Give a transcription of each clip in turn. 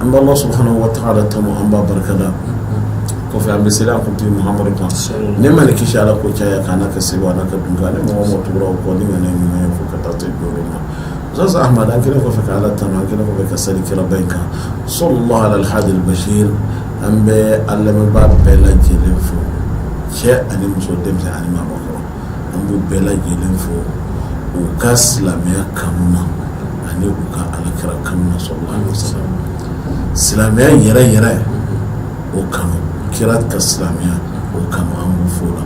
an bɛ ala subhanahu wa ta'ala tanu an b'a barikada kɔfɛ an bɛ seli an kuntigi mahamadu kan nɛɛma ni kisi ala k'o caya a kan ka se a ka du ni mɔgɔ tugura u kɔ ni ɲuman fo ka taa to jɔyɔrɔ ma sisan a an kɛlen kɔfɛ ka ala tanu an kɛlen kɔfɛ ka seli kiraba in kan sallallahu ala alhadi albasir an bɛ an lamɛnbaa bɛɛ lajɛlen fo cɛ ani muso denmisɛnnin ani maakɔrɔ an b'u bɛɛ lajɛlen fo u ka silamɛya kanu na ani u ka alakira kanu na sallallahu alaihi wasallam silamɛya yɛrɛ yɛrɛ o kanu kira ka silamɛya o kanu an b'u fo o la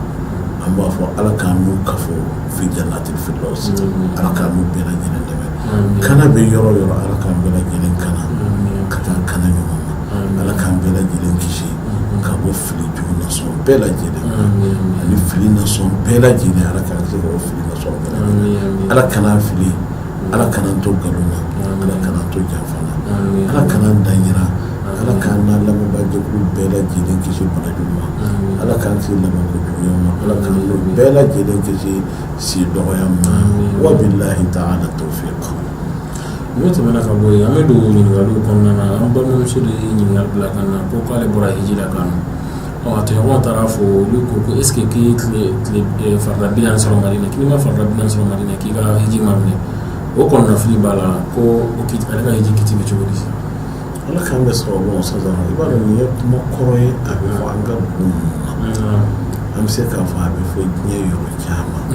an b'a fɔ ala k'an n'u kafo fi jannati firdawsi ala k'an n'u bɛɛ lajɛlen dɛmɛ kana bɛ yɔrɔ o yɔrɔ ala k'an bɛɛ lajɛlen kana ka taa kana ɲɔgɔn na Ala k'an bɛɛ lajɛlen kisi ka bɔ fili jugu na sugu bɛɛ lajɛlen ani fili na sugu bɛɛ lajɛlen ala ka fili ala kan'an fili ala kan'an to nkalon na ala kan'an to janfa la ala kana da jira ala k'an lamɛnbagaw bɛɛ lajɛlen kisi bana jugu ma ala k'an kisi laban jugu ma ala k'an bɛɛ lajɛlen kisi si dɔgɔya ma wa billahi ta'ala tawfiq N'o tɛmɛna ka bɔ yen an bɛ don ɲininkaliw kɔnɔna na an balimamuso de ye ɲininkali bila ka na ko k'ale bɔra hiji la ka na ɔ a tɔɲɔgɔnw taara a fɔ olu ko ko est ce que k'i ye tile tile ɛ farida bi naani sɔrɔ Madina ko n'i ma farida bi naani sɔrɔ Madina k'i ka hiji ma minɛ o kɔnɔnafili b'a la ko o kiti ale ka hiji kiti bɛ cogo di Ala k'an bɛɛ sɔrɔ bon sisan i b'a dɔn nin ye kuma kɔrɔ ye a bɛ fɔ an ka dugu na an bɛ se k'a fɔ a bɛ fɔ diɲɛ yɔrɔ caman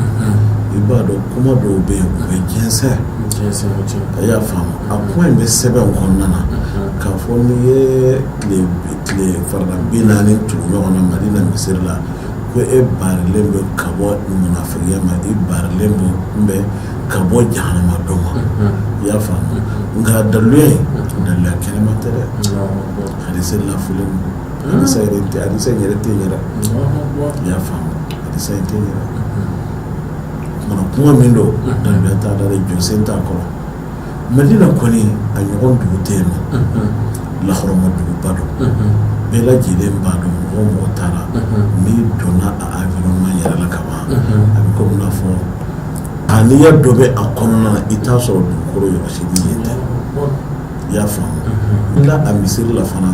i b'a dɔn kuma dɔw bɛ yen u bɛ jɛnsɛn a y'a faamu a kuma in bɛ sɛbɛn kɔnɔna na k'a fɔ n'i ye tile farida bi naani tugu ɲɔgɔn na madina misiri la ko i barilen bɛ ka bɔ munafigiya ma i barilen bɛ n bɛ ka bɔ jahanama don ma i y'a faamu nka daluya in daluya kɛnɛman tɛ dɛ hadisa lafulen don hadisa yɛrɛ tɛ hadisa in yɛrɛ tɛ n yɛrɛ i y'a faamu hadisa in tɛ n yɛrɛ mana kuma min don daluya t'a la dɛ jɔsen t'a kɔrɔ madina kɔni a ɲɔgɔn dugu tɛ yen nɔ lahɔrɔma duguba don bɛɛ lajɛlen b'a dɔn mɔgɔ o mɔgɔ taara n'i donna a environnement yɛrɛ la ka ban a bɛ komi i n'a fɔ A n'i ya dɔ bɛ a kɔnɔna na i t'a sɔrɔ dugukolo yɔrɔ si bɛ yen tan i y'a faamu nka a misiri la fana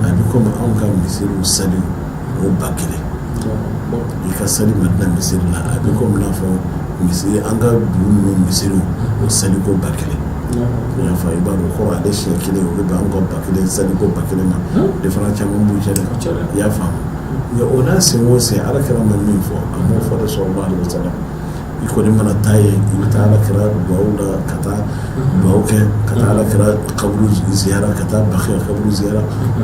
a bɛ komi anw ka misiriw saliko ba kelen i ka sali madina misiri la a bɛ komi n'a fɔ misiri an ka dugu misiriw saliko ba kelen i y'a faamu i b'a dɔn ko ale siɲɛ kelen o bɛ an ka ba kelen saliko ba kelen ma différence ba b'u cɛ i y'a faamu o n'a sen o sen ala kira ma min fɔ a b'o fɔ de sɔrɔ' de bɛ i kɔni mana taa yen i bɛ taa kira rawda la ka taa dugawu kɛ ka taa kira kaburu ziyara ka taa bakiya kaburu ziyara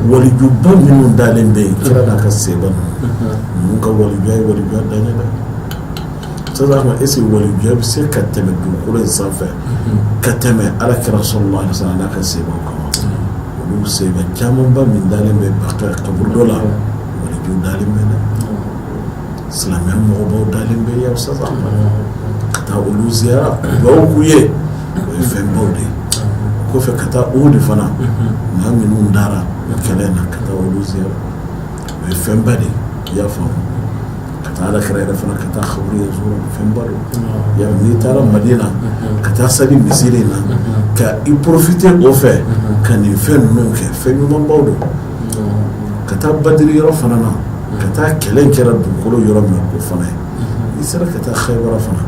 walijuba minnu dalen bɛ yen kira n'a ka sahaba ninnu ka walijuya ye walijuya dan ye dɛ sisan maa si walijuya tɛ se ka tɛmɛ dugukolo in sanfɛ ka tɛmɛ ala kira sallallahu alaihi wasallam n'a ka sahaba kan olu sahaba camanba min dalen bɛ bakiya kaburudo la waliju dalen bɛ dɛ silamɛya mɔgɔbaw dalen bɛ yan sisan ka taa olu ziyara dugawu k'u ye o ye fɛnbaw de ye o kɔfɛ ka taa uhudu fana maa minnu dara o kɛlɛ na ka taa olu ziyara o ye fɛnba de ye i y'a faamu ka taa alakira yɛrɛ fana ka taa kaburu yɛrɛ sɔrɔ fɛnba do y'a n'i taara madina ka taa sali misiri in na ka i porofite o fɛ ka nin fɛn ninnu kɛ fɛn ɲumanbaw do ka taa badiri yɔrɔ fana na ka taa kɛlɛ kɛra dugukolo yɔrɔ min o fana ye i sera ka taa xaybara fana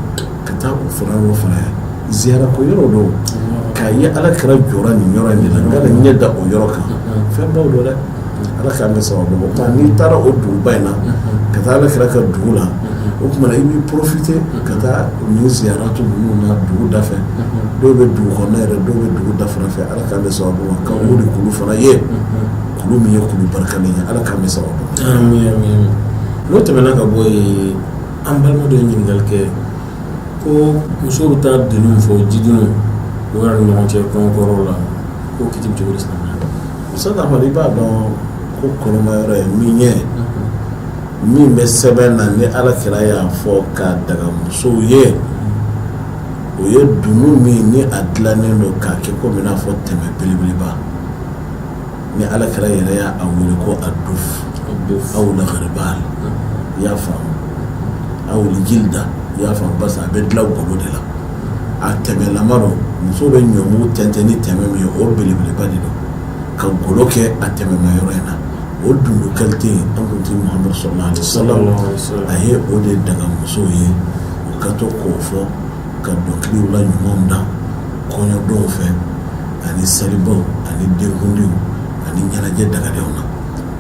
ka taa o fana yɔrɔ fana ye ziyara kɛyɔrɔ don k'a ye ala kira jɔra nin yɔrɔ in de la ka ɲɛ da o yɔrɔ kan fɛn baw don dɛ ala k'an bɛɛ sababu n'i taara o duguba in na ka taa ala kira ka dugu la o tuma i b'i porofite ka taa nin ziyaratu ninnu na dugu da fɛ dɔw bɛ dugu kɔnɔ yɛrɛ dɔw bɛ dugu dafa fɛ ala K'an bɛɛ sababu ma k'an ka Uhudu kulu fana ye kulu min ye kulu barikalen ye Ala k'an bɛɛ sababu ma. Amin amin amin n'o tɛmɛna ka bɔ yen an balima dɔ ye ɲininkali kɛ ko musow bɛ taa dununw fɔ jidunun u yɛrɛ ni ɲɔgɔn cɛ kɔɲɔkɛyɔrɔw la k'o kiti bɛ cogo di silamɛya la. Ustaz Amadu i b'a dɔn ko kɔnɔmayɔrɔ ye min ye min bɛ sɛbɛn na ni Alakira y'a fɔ k'a daga musow ye o ye dunun min ni a dilannen don k'a kɛ komi i n'a fɔ tɛmɛ belebeleba ni ala kira yɛrɛ y'a wele ko aduf aw algiribal i y'a faamu aw jilda i y'a faamu paseke a bɛ dilan golo de la a tɛmɛlama don muso bɛ ɲɔmugu tɛntɛn ni tɛmɛ min ye o belebeleba de don ka golo kɛ a tɛmɛma yɔrɔ in na o dunun kalite an kuntigi muhamadu sallallahu alaihi wasallam a ye o de daga musow ye ka to k'o fɔ ka dɔnkiliw la ɲumanw da kɔɲɔdonw fɛ ani selibaw ani denkundiw ani ɲɛnajɛ dagalenw na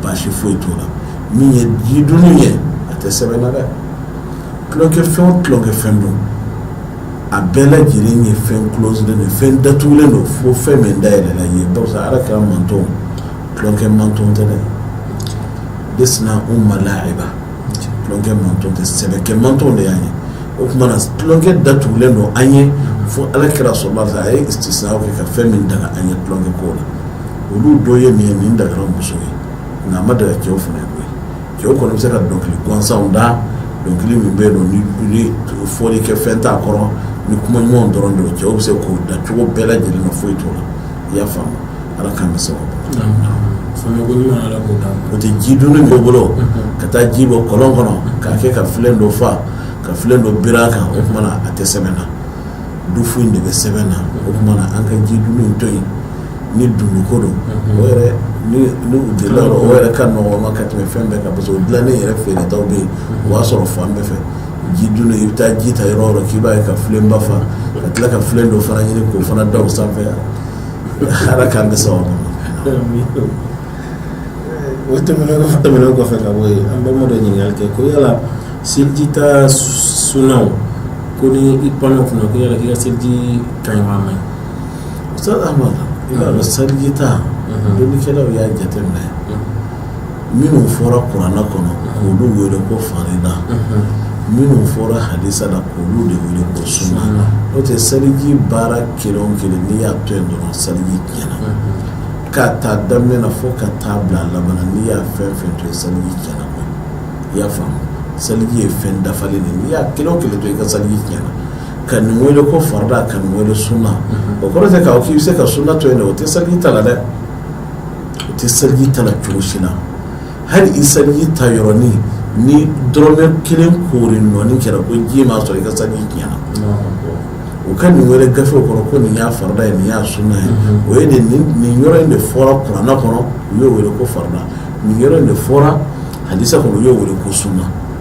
baasi foyi t'o la min ye jidunun ye a tɛ sɛbɛn na dɛ tulonkɛfɛn o tulonkɛfɛn don a bɛɛ lajɛlen ye fɛn kulosilen don fɛn datugulen don fo fɛn min dayɛlɛla ye barisa ala kira mantɔn tulonkɛ mantɔn tɛ dɛ desina u ma lahiba tulonkɛ manton tɛ sɛbɛkɛ manton de y'an ye o tuma na tulonkɛ da tugulen don an ye fo Ala kira sallallahu alaihi wasallam a ye istisna kɛ ka fɛn min daga an ye tulonkɛ ko la olu dɔ ye nin ye nin dagara muso ye nka a ma daga cɛw fana ye cɛw kɔni bɛ se ka dɔnkili gansanw da dɔnkili min bɛ don ni fɔli kɛ fɛn t'a kɔrɔ ni kuma ɲumanw dɔrɔn don cɛw bɛ se k'o da cogo bɛɛ lajɛlen na foyi t'o la i y'a faamu Ala k'an ni sababu bɛn naamu naamu faamuyali ɲuman Ala k'o d'an ma n'o tɛ jidunun b'u bolo ka taa ji bɔ kɔlɔn kɔnɔ k'a kɛ ka filen dɔ fa ka filen dɔ biri a kan o tuma na a tɛ sɛbɛn na dufu in de bɛ sɛbɛn na o tuma na an ka jidunun in to yen ni dunun ko don o yɛrɛ ni ni u delila o yɔrɔ o yɛrɛ ka nɔgɔn u ma ka tɛmɛ fɛn bɛɛ kan parce que o dilannen yɛrɛ feeretaw bɛ yen o b'a sɔrɔ fan bɛɛ fɛ jidunun i bɛ taa ji ta yɔrɔ o yɔrɔ k'i b'a ye ka filenba fa ka tila ka filen dɔ fana ɲini k'o fana da o sanfɛ yan ala k'an bɛ sɔn o tɛmɛnen kɔfɛ tɛmɛnen kɔfɛ ka bɔ yen an balima dɔ ɲininkali kɛ ko yala seliji ta sunaw ko ni i panna o kunna ko yala k'i ka seliji ka ɲi wa a ma ɲi Ustaz Ahmad i b'a dɔn seliji ta dɔnnikɛlaw y'a jateminɛ minnu fɔra kuranɛ kɔnɔ k'olu wele ko farida minnu fɔra hadisa la k'olu de wele ko sunna n'o tɛ seliji baara kelen o kelen n'i y'a to yen dɔrɔn seliji tiɲɛna k'a ta daminɛ na fo ka taa bila a laban na n'i y'a fɛn fɛn to yen seliji tiɲɛna koyi i y'a faamu seliji ye fɛn dafalen de ye n'i y'a kelen o kelen to yen i ka seliji tiɲɛna ka nin wele ko farida ka nin wele sunna o kɔrɔ tɛ k'a fɔ k'i bɛ se ka sunna to yen dɛ o tɛ seliji ta la dɛ o tɛ seliji ta la cogo si la hali i seliji ta yɔrɔnin ni dɔrɔmɛ kelen koori nɔnin kɛra ko ji m'a sɔrɔ i ka seliji tiɲɛna u ka nin wele gafew kɔnɔ ko nin y'a farida ye nin y'a sunna ye o ye nin yɔrɔ in de fɔra kuranɛ kɔnɔ u y'o weele ko farida nin yɔrɔ in de fɔra hadisa kɔnɔ u y'o weele ko sunna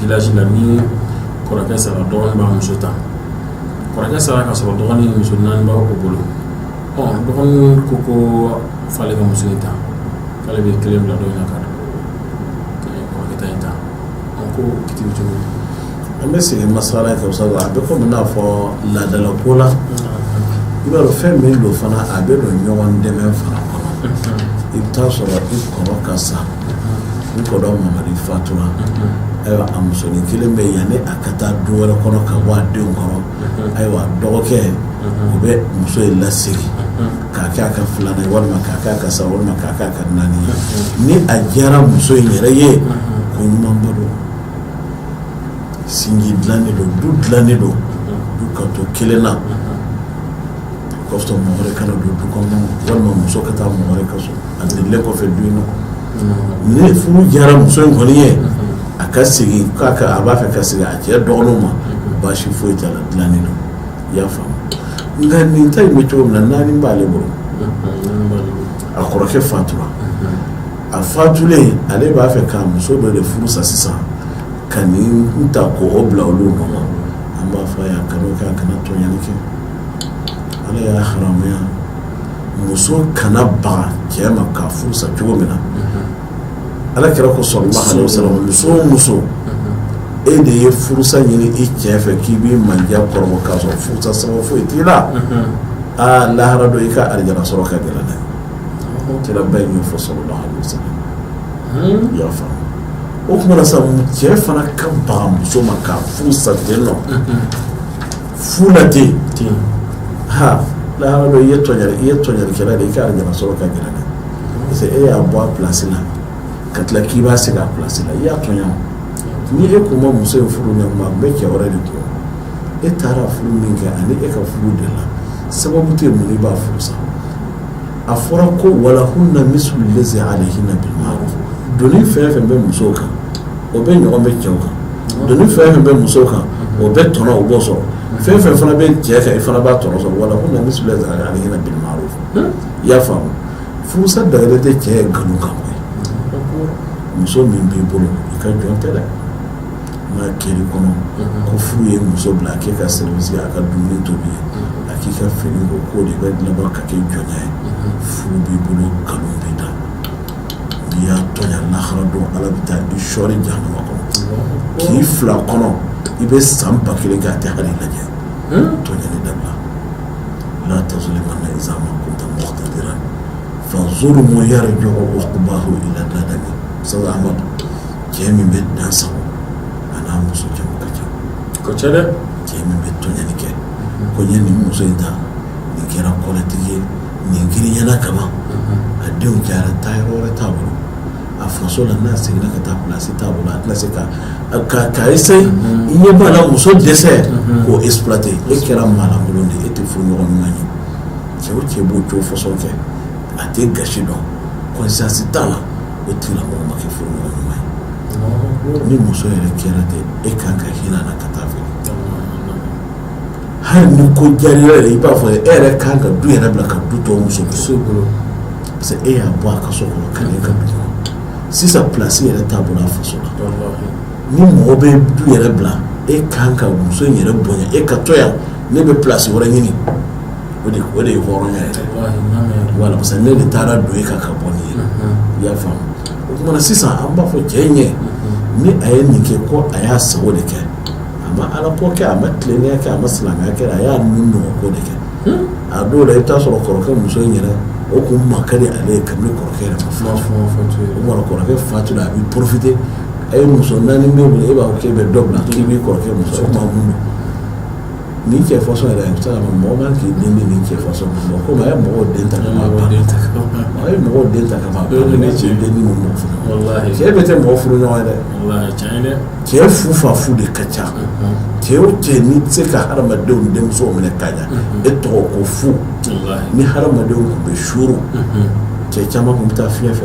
village la ni kɔrɔkɛ sara dɔgɔnin b'a muso ta kɔrɔkɛ sara ka sɔrɔ dɔgɔnin ni muso naani b'a bolo ɔ dɔgɔnin ko ko f'ale ka muso in ta k'ale bɛ kelen bila dɔ in na ka kɔrɔkɛ ta in ta ɔ ko o kiti bɛ cogo di An bɛ segin masala in kan sabu a bɛ comme i n'a fɔ laadala ko la, i b'a dɔn fɛn min don fana a bɛ don ɲɔgɔn dɛmɛ fana kɔnɔ, i bɛ taa sɔrɔ i kɔrɔ ka sa, i kɔrɔ Mamadi fatura, ayiwa a musonin kelen bɛ yen yanni a ka taa du wɛrɛ kɔnɔ ka bɔ a denw kɔrɔ, ayiwa dɔgɔkɛ o bɛ muso in lasigi k'a kɛ a ka filanan ye walima k'a kɛ a ka saba walima k'a kɛ a ka naani ye ni a diyara muso in yɛrɛ ye ko ɲumanba don sinji dilannen don du dilannen don du ka to kelen na kɔfɛ mɔgɔ wɛrɛ kana don du kɔnɔ walima muso ka taa mɔgɔ wɛrɛ ka so a delilen kɔfɛ du in na ni furu diyara muso in kɔni ye a ka segin k'a ka a b'a fɛ ka segin a cɛ dɔgɔninw ma baasi foyi t'a la dilannen don i y'a faamu nka nin ta in bɛ cogo min na naani b'ale bolo a kɔrɔkɛ fatura a fatulen ale b'a fɛ ka muso dɔ de furu sa sisan ka nin ta k'o bila olu nɔ na an b'a fɔ a ye a kana o kɛ a kana tɔɲɔni kɛ ala y'a haramuya muso kana baga cɛ ma k'a furu sa cogo min na ala kira ko sallallahu alaihi wasallam muso o muso e de ye furusa ɲini i cɛ fɛ k'i b'i mandiya kɔrɔbɔ k'a sɔrɔ furusa sababu foyi t'i la aa lahara don i ka arijana sɔrɔ ka gɛlɛn dɛ kira b'a ɲɛfɔ sallallahu alaihi wasallam i y'a faamu o tuma na sa cɛ fana ka baga muso ma k'a furu sa nɔ fu la ten ha lahara don i ye tɔɲani i ye tɔɲanikɛla de i ka arijana sɔrɔ ka gɛlɛn dɛ parce que e y'a bɔ a pilasi la ka tila k'i b'a segin a pilasi la i y'a tɔɲa ni e kun ma muso in furu nin tuma a bɛ cɛ wɛrɛ de kun e taara furu min kɛ ani e ka furu de la sababu tɛ mun i b'a furu sa a fɔra ko wa lahunna mislu lazi alayhinna bil ma'ruf doni fɛn fɛn bɛ musow kan o bɛɛ ɲɔgɔn bɛ cɛw kan doni fɛn fɛn bɛ musow kan o bɛ tɔnɔ o b'o sɔrɔ fɛn fɛn fana bɛ cɛ kan i fana b'a tɔnɔ sɔrɔ wa lahunna mislu lazi alayhinna bil ma'ruf i y'a faamu furusa dagalen tɛ cɛ ye nkalon kan muso min b'i bolo i ka jɔn tɛ dɛ N'a kɛr'i kɔnɔ ko furu ye muso bila a k'e ka service a ka dumuni tobi ye a k'i ka fini ko k'o de bɛ laban ka kɛ jɔnya ye furu b'i bolo nkalon b'i da n'i y'a tɔɲa lahara don ala bɛ taa i sɔɔri jahanama kɔnɔ k'i fil'a kɔnɔ i bɛ san ba kelen kɛ a tɛ hali lajɛ tɔɲani dabila la tazlimanna iza ma kunta muqtadiran fa zulmu yarji'u uqbahu ila nadami sabu amadu cɛ min bɛ dan sago a n'a muso cɛ ka ca kosɛbɛ cɛ min bɛ tɔɲani kɛ ko n ye nin muso in ta nin kɛra kɔlɛtigi ye nin girinyana kama a denw cayara taa yɔrɔ wɛrɛ t'a bolo a faso la n'a seginna ka taa plasi t'a bolo a tɛna se ka ka ka essayer i ɲɛ b'a la muso dɛsɛ k'o exploiter e kɛra maalankolon de e tɛ furu ɲɔgɔn ɲuman ye cɛ o cɛ b'o cogo façon kɛ a tɛ gasi dɔn conscience t'a la O tigilamɔgɔ ma kɛ furu ɲɔgɔn ɲuman ye ni muso yɛrɛ kɛra ten e kan ka hinɛ a la ka taa fɛ hali ni ko jara yɛrɛ i b'a fɔ e yɛrɛ kan ka du yɛrɛ bila ka du to muso bolo parce que e y'a bɔ a ka so kɔnɔ ka n'e ka du kɔnɔ sisan plasi yɛrɛ t'a bolo a faso la ni mɔgɔ bɛ du yɛrɛ bila e kan ka muso in yɛrɛ bonya e ka to yan ne bɛ plasi wɛrɛ ɲini o de o de ye hɔrɔnya yɛrɛ voilà parce que ne de taara don e kan ka bɔ nin ye i y'a faamu o tuma na sisan an b'a fɔ cɛ ɲɛ ni a ye nin kɛ ko a y'a sago de kɛ a ma alako kɛ a ma tilennenya kɛ a ma silamɛya kɛ a y'a nun nɔgɔ ko de kɛ a dɔw la i bɛ taa sɔrɔ kɔrɔkɛ muso in yɛrɛ o kun ma ka di ale ye kabini kɔrɔkɛ yɛrɛ ma fatu o tuma na kɔrɔkɛ fatula a b'i porofite a ye muso naani b'e bolo e b'a fɔ k'e bɛ dɔ bila k'i b'i kɔrɔkɛ muso o tuma mun don Nin cɛ façon yɛrɛ bɛ se mɔgɔ man kan k'i den di nin cɛ façon ma ko a ye mɔgɔ den ta a ye mɔgɔ den ta ka cɛ den ni cɛ bɛɛ tɛ mɔgɔ furu ɲɔgɔn dɛ cɛ fu fa fu de ka ca cɛ o cɛ n'i tɛ se ka hadamadenw denmuso minɛ ka ɲɛ e tɔgɔ ko fu ni hadamadenw tun bɛ suuru cɛ caman tun bɛ taa fiɲɛ fɛ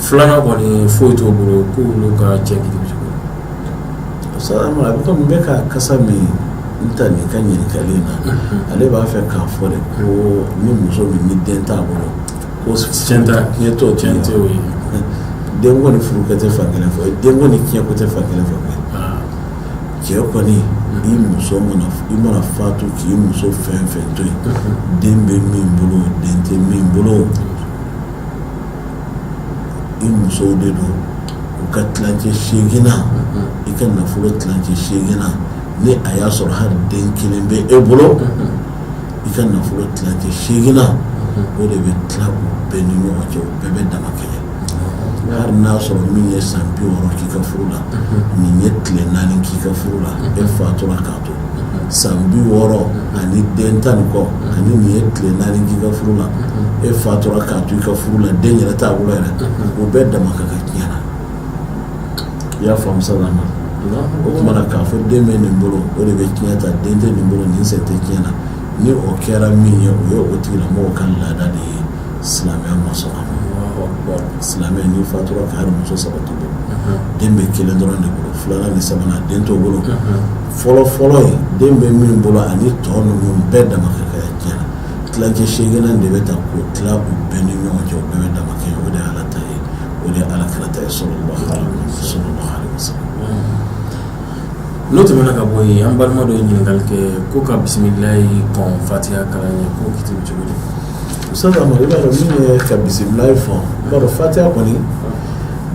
filanan kɔni foyi t'o bolo k'u olu ka cɛ Salama n bɛ ka kasa min ta nin ka ɲininkali in na mhm. ale b'a fɛ k'a fɔ de ko ni muso min ni den t'a bolo ko tiɲɛ ta tiɲɛ t'o tiɲɛ tɛ o ye denko ni furuko tɛ fan kelen fɛ denko ni tiɲɛko tɛ fan kelen fɛ ah. cɛ kɔni mhm. i muso mana i mana fatu k'i muso fɛn fɛn to yen mhm. den bɛ min bolo den tɛ min bolo i musow de don u ka tilancɛ seginan i ka nafolo tilancɛ seginan ni a y'a sɔrɔ hali den kelen bɛ e bolo i ka nafolo tilancɛ seginan o de bɛ tila u bɛɛ ni ɲɔgɔn cɛ u bɛɛ bɛ dama kɛɲɛ hali n'a sɔrɔ min ye san bi wɔɔrɔ k'i ka furu la nin ye tile naani k'i ka furu la e fatura ka san bi wɔɔrɔ ani den tan ni kɔ ani nin ye tile naani k'i ka furu la e fatura k'a to i ka furu la den yɛrɛ t'a bolo yɛrɛ u bɛɛ dama ka kan tiɲɛ na i y'a faamu Salama o tuma na k'a fɔ den bɛ nin bolo o de bɛ tiɲɛ ta den tɛ nin bolo nin sen tɛ tiɲɛ na ni o kɛra min ye o ye o tigilamɔgɔw ka laada de ye silamɛya ma sɔn a ma, Alahu akibaru, silamɛ n'i fatura k'a sɔrɔ muso 3 b'i bolo, unhun, den bɛ 1 dɔrɔn de bolo, 2 nan ni 3 nan den t'u bolo, unhun, fɔlɔ fɔlɔ in den bɛ min bolo ani tɔ ninnu bɛɛ dama ka kan tiɲɛ na, tilancɛ 8 nan de bɛ ta k'o tila u bɛɛ ni ɲɔgɔn cɛ u bɛɛ bɛ dama kɛɲɛ o de ye Ala ta ye o de ye alakira ta ye salalahu alayihi wa salama, n'o tɛmɛna ka bɔ yen an balima dɔ ye ɲininkali kɛ ko ka bisimilayi kɔn fatiha kalan ɲɛ k'o kɛ cogo di Sa Amadu i b'a dɔn min ye ka bisimilayi fɔ i b'a dɔn fatiya kɔni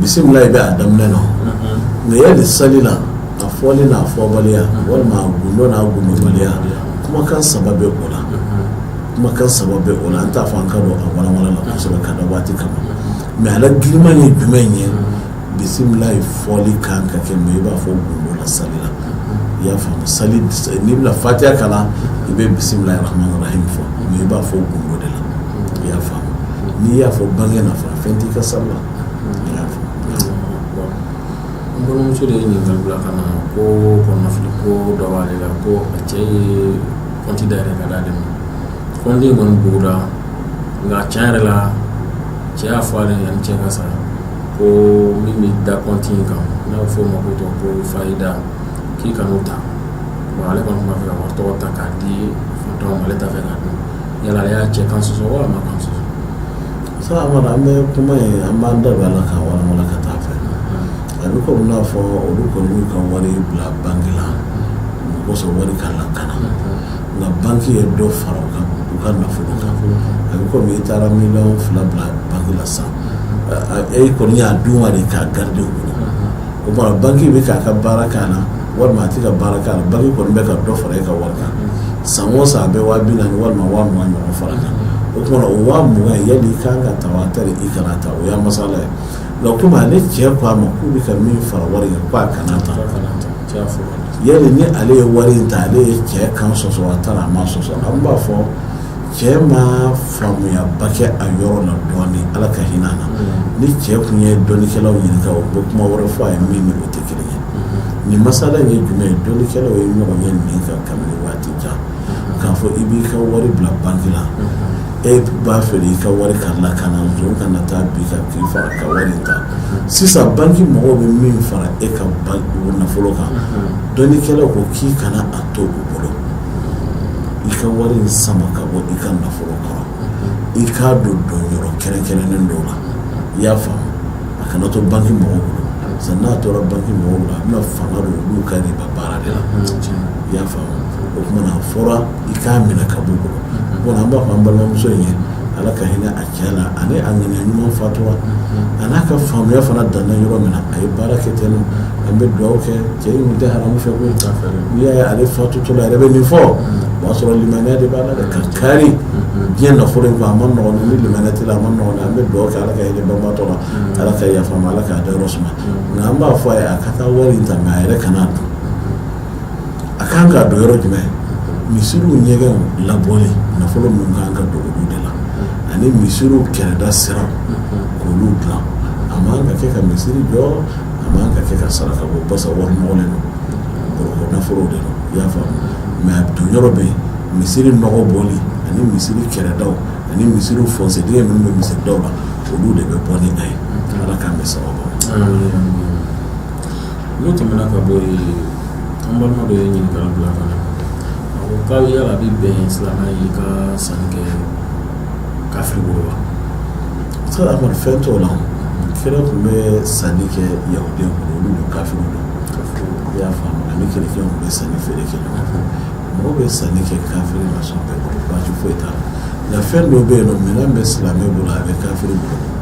bisimilayi bɛ a daminɛ na mɛ yali sali la a fɔli n'a fɔbaliya walima a gundo n'a gundobaliya kumakan saba bɛ o la kumakan saba bɛ o la an t'a fɔ an ka don a walawala la kosɛbɛ ka da waati kama mɛ a la girinman ye jumɛn ye bisimilayi fɔli kan ka kɛ mɛ i b'a fɔ gundo la sali la i y'a faamu sa n'i bɛna fatiya kalan i bɛ bisimilayi rahmani rahim fɔ mɛ i b'a fɔ gundo de la i y'a faamu n'i y'a fɔ bange nafa fɛn t'i ka sali la i y'a faamu n balimamuso de ye ɲininkali bila ka na ko kɔnɔnafili ko dɔ b'ale la ko a cɛ ye kɔnti dayɛlɛ ka d'ale ma kɔnti kɔni bugura nka tiɲɛ yɛrɛ la cɛ y'a fɔ ale ye yanni cɛ ka sa ko min bɛ da kɔnti in kan n'a bɛ fɔ o ma ko tɔnɔ ko fayida k'i kan'o ta bon ale kɔni tun b'a fɛ ka wari tɔnɔ ta k'a di fantanw ma ale t'a fɛ k'a dun yala ale y'a cɛ kan sɔsɔ wa a ma kan sɔsɔ Ustaz Amadu an bɛ kuma ye an b'an da don a la k'a walawala ka taa fɛ a bɛ komi n'a fɔ olu kɔni y'u ka wari bila banki la o kosɔn wari ka lakana nka banki ye dɔ fara u ka u ka nafolo kan a bɛ komi i taara miliyɔn fila bila banki la sisan e kɔni y'a d'u ma de k'a garidi o tuma banki bɛ k'a ka baara k'a la walima a tɛ ka baara k'a la banki kɔni bɛ ka dɔ fara e ka wari kan san o san a bɛ waa binaani walima waa mugan ɲɔgɔn fara kan o tuma o waa mugan yali i ka kan k'a ta wa tari i kana ta o y'a masala ye nka komi ale cɛ ko a ma k'u bɛ ka min fara wari kan k'a kana ta yali ni ale ye wari in ta ale ye cɛ kan sɔsɔ wa tari a ma sɔsɔ an b'a fɔ cɛ ma faamuyaba kɛ a yɔrɔ na dɔɔnin ala ka hinɛ na ni cɛ tun ye dɔnnikɛlaw ɲininka o bɛ kuma wɛrɛ fɔ a ye min n'o tɛ kelen ye nin masala ye jumɛn ye dɔnnikɛlaw ye ɲɔgɔn ye nin kan kabini waati jan k'a fɔ i b'i ka wari bila banki la e b'a fɛ i ka wari ka lakana zon kana taa bin i kan k'i faga ka wari ta sisan banki mɔgɔw bɛ min fara e ka nafolo kan dɔnnikɛlaw ko k'i kana a to u bolo i ka wari in sama ka bɔ i ka nafolo kɔrɔ i k'a don donyɔrɔ kɛrɛnkɛrɛnnen dɔw la i y'a faamu a kana to banki mɔgɔw bolo sisan n'a tora banki mɔgɔw la a bɛna fanga don olu ka riba baara de la i y'a faamu o tuma a fɔra i k'a minɛ ka bɔ u bolo bon an b'a fɔ an balimamuso in ye ala ka hinɛ a cɛ la ani a ŋaniya ɲuman faatura, unhun, a n'a ka faamuya fana danna yɔrɔ min na, a ye baara kɛ ten nɔn, an bɛ dugawu kɛ cɛ in tun tɛ haramu fɛ koyi, n'i y'a ye ale faatutɔ la a yɛrɛ bɛ nin fɔ, o b'a sɔrɔ limaniya de b'a la dɛ, ka kari diɲɛ nafolo in kɔ a ma nɔgɔn dɛ, ni limaniya t'i la a ma nɔgɔn dɛ, an bɛ dugawu kɛ Ala ka hinɛ banbaatɔ la, Ala ka yafa a ma, Ala k'a dayɔrɔ suma, nka an b'a fɔ a ye a ka taa wari in ta nka a yɛrɛ kan'a dun a kan ka don yɔrɔ jumɛn misiriw ɲɛgɛnw labɔli nafolo min ka kan ka don olu de la ani misiriw kɛrɛda siraw k'olu dilan a man ka kɛ ka misiri jɔ a man ka kɛ ka saraka bɔ basa wari nɔgɔlen don gɔrɔkɔ nafolo de don i y'a faamu mɛ a don yɔrɔ bɛ yen misiri nɔgɔ bɔli ani misiri kɛrɛdaw ani misiri fɔnsedingɛ minnu bɛ misiridaw la olu de bɛ bɔ ni a ye ala k'an bɛ sababu n'o tɛmɛna ka bɔ yen an balima dɔ ye ɲininkali bila ka na a ko yala a bɛ bɛn silamɛ ye ka sanni kɛ kafiri bolo wa se a kɔni fɛn t'o la kira tun bɛ sanni kɛ yahudiyaw bolo olu dun kafiriw don i y'a faamu ani kerecɛnw tun bɛ sanni feere kɛ ɲɔgɔn fɛ mɔgɔw bɛ sanni kɛ kafiri ma sɔn bɛɛ bolo baasi foyi t'a la nka fɛn dɔ bɛ yen n'o minɛn bɛ silamɛ bolo a bɛ kafiri bolo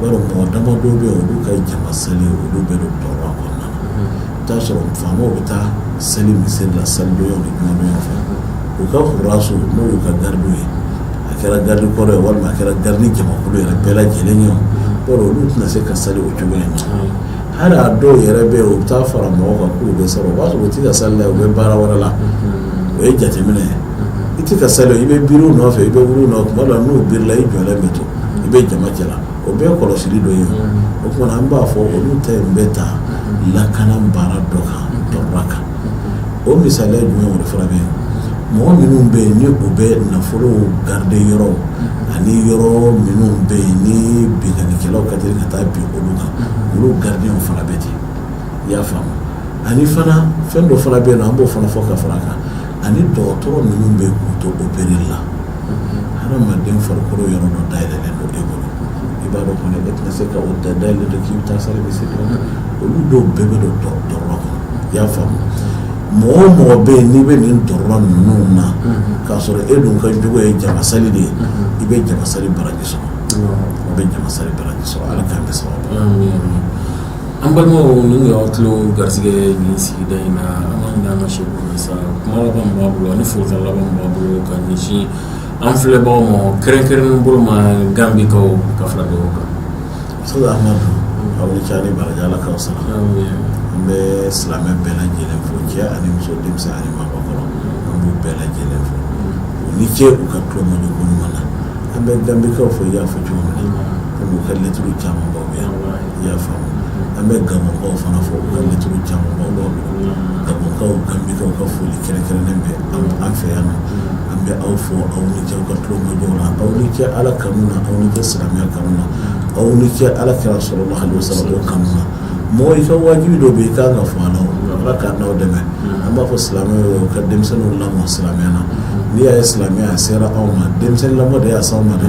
Mɔgɔ dama dɔw bɛ yen olu ka jama seli olu bɛ don darura kɔnɔna na i b'a sɔrɔ faamaw bɛ taa seli misiri la seli fɛ u ka hurasu n'o y'u ka garidiw ye a kɛra garidi kɔri ye walima a kɛra garidi jamakulu yɛrɛ bɛɛ lajɛlen ye olu tɛna se ka seli o cogo in na hali a dɔw yɛrɛ bɛ yen u bɛ taa fara mɔgɔw kan k'u bɛ sɔrɔ o b'a sɔrɔ u tɛ ka seli la u bɛ baara wɛrɛ la o ye jateminɛ ye i tɛ ka seli i bɛ biri u nɔfɛ i bɛ wuli u nɔfɛ tuma dɔ la n'u birila i jɔlen bɛ to i bɛ jama cɛla o bɛɛ ye kɔlɔsili dɔ ye o tuma an b'a fɔ olu ta in bɛ ta lakana baara dɔ kan darura kan o misaliya jumɛn wɛrɛ fana bɛ yen mɔgɔ minnu bɛ yen ni u bɛ nafolo garide yɔrɔ ani yɔrɔ minnu bɛ yen ni binkannikɛlaw ka teli ka taa bin olu kan olu garidiw fana bɛ ten i y'a faamu ani fana fɛn dɔ fana bɛ yen n'an b'o fana fɔ ka fara a kan ani dɔgɔtɔrɔ minnu bɛ k'u to opereli la Hadamaden farikolo yɔrɔ dɔ dayɛlɛlen don e bolo i b'a dɔn kɔni e tɛna se k'a dayɛlɛlen to k'i bɛ taa sali bɛ se olu dɔw bɛɛ bɛ don darura kɔnɔ i y'a faamu mɔgɔ o mɔgɔ bɛ yen n'i bɛ nin darura ninnu na k'a sɔrɔ e dun ka jogo ye jamasali de ye i bɛ jamasali baraji sɔrɔ i bɛ jamasali baraji sɔrɔ ala k'an bɛ sababu An balimaw nin y'aw tulo garisɛgɛ nin sigida in na an'an ka se sa kuma laban min b'a bolo ani foli laban min b'a bolo ka ɲɛsin an filɛbagaw ma kɛrɛnkɛrɛn bolo ma ganbikaw ka fara ɲɔgɔn kan aw ni ce ani baraji ala k'aw sara an bɛ silamɛ bɛɛ lajɛlen fo cɛ ani muso denmisɛn ani maakɔrɔ an b'u bɛɛ lajɛlen fo u ni ce u ka tulomajɔ ɲuman na an bɛ ganbikaw fo i y'a fɔ cogo min na an b'u ka lɛtiri caman baw yan i y'a faamu an bɛ Gabɔkaw fana fo u ka lɛtiri caman b'an bolo Gabɔkaw Gambikaw ka foli kɛrɛnkɛrɛnnen bɛ an fɛ yan nɔ an bɛ aw fo aw ni ce aw ka tulomajɔ la aw ni ce Ala kanu na aw ni ce silamɛya kanu na aw ni ce Ala kira sallallahu alaihi wasallam kanu na mɔgɔ i ka wajibi dɔ bɛ yen i ka kan ka fɔ a la o Ala k'an n'aw dɛmɛ an b'a fɔ silamɛw ye u ka denmisɛnninw lamɔ silamɛya la n'i y'a ye silamɛya a sera anw ma denmisɛnnin lamɔ de y'a s'anw ma dɛ